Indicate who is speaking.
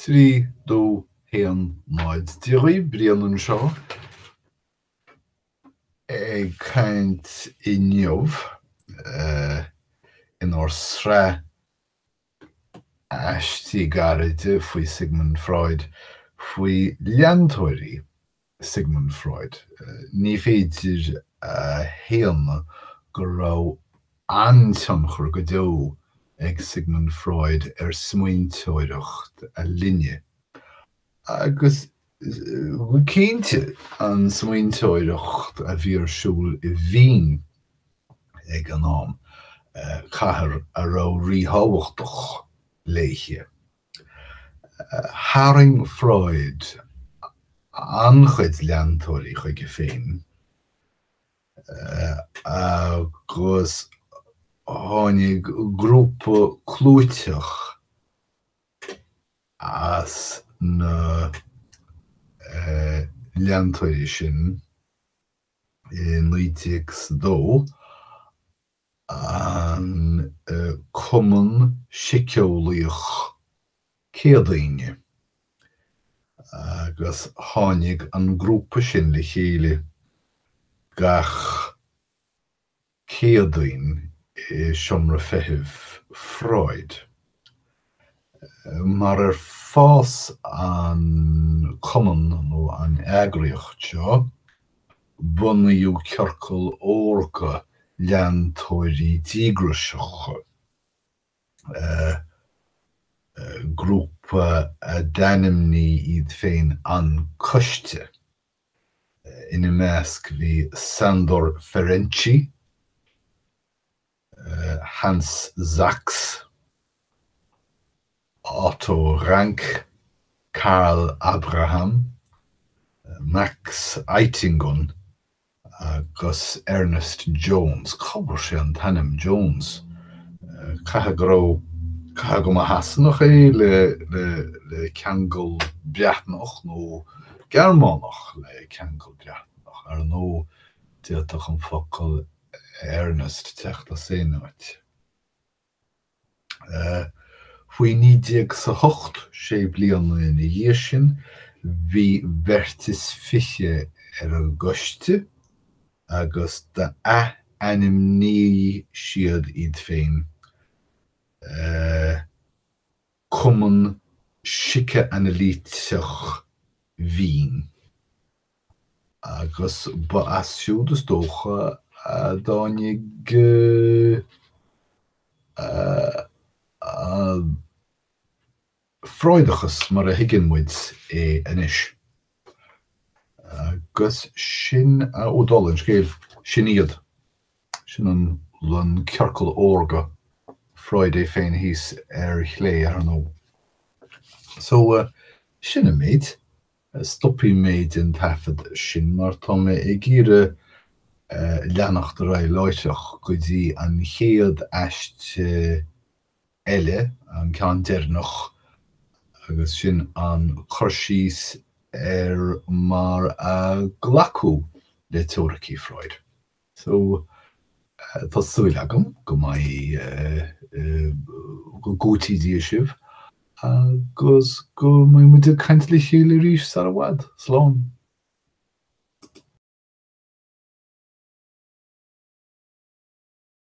Speaker 1: trí, dó, haon, náid. Dia dhaoibh, Brian anseo ag caint inniu inár sraith aistí gairide faoi Sigmund Freud faoi leantóirí Sigmund Freud. Ní féidir a shéanadh go raibh an-tionchar go deo ag Sigmund Freud ar smaointeoireacht a linne, agus go cinnte an smaointeoireacht a bhí ar siúl i Vín ag an am, cathair a raibh ríthábhachtach léithe. Tharraing Freud an-chuid leantóirí chuige féin agus tháinig grúpa clúiteach as na leantóirí sin i 1902 an Cumann Síceolaíoch Céadaoine agus tháinig an grúpa sin le chéile gach Céadaoin i seomra feithimh Freud. mar ar fás an cumann nó an eagraíocht seo, bunaíodh ciorcal órga leantóirí díograiseach, grúpa a d'ainmnigh iad féin An Coiste. Ina measc bhí Sándor Ferenczi. Hans Sachs, Otto Rank, Karl Abraham, Max Eitingon agus Ernest Jones, cá bhfuair sé an t-ainm Jones, caithfidh go raibh, caithfidh go mba Shasanach é le ceangal Breatnach nó Gearmánach le ceangal Breatnach, ar ndóigh d'fhéadfadh an focal Ernest teacht as aon áit. Faoi 1908, sé bliana ina dhiaidh sin, bhí beirt is fiche ar an gcoiste agus d'athainmnigh siad iad féin Cumann Síceanailíteach Vín. agus ba as siúd is dócha a dtáinig an Freudachas mar a thuigeann muid é anois. Agus sin ó dul an scéil, sin iad, sin an ciorcal órga, Freud é féin thíos ar chlé, ar ndóigh. So, sin an méid. Stopfaidh mé den taifead sin mar tá mé ag iarraidh leanacht ar aghaidh láithreach go dtí an chéad aiste eile, an ceann deireanach, agus sin an cur síos ar mar a glacadh le teoiricí Freud. So, tá súil agam go mbeidh, go dté sibh agus go mbeidh muid ag caint le chéile arís sar i bhfad. Slán.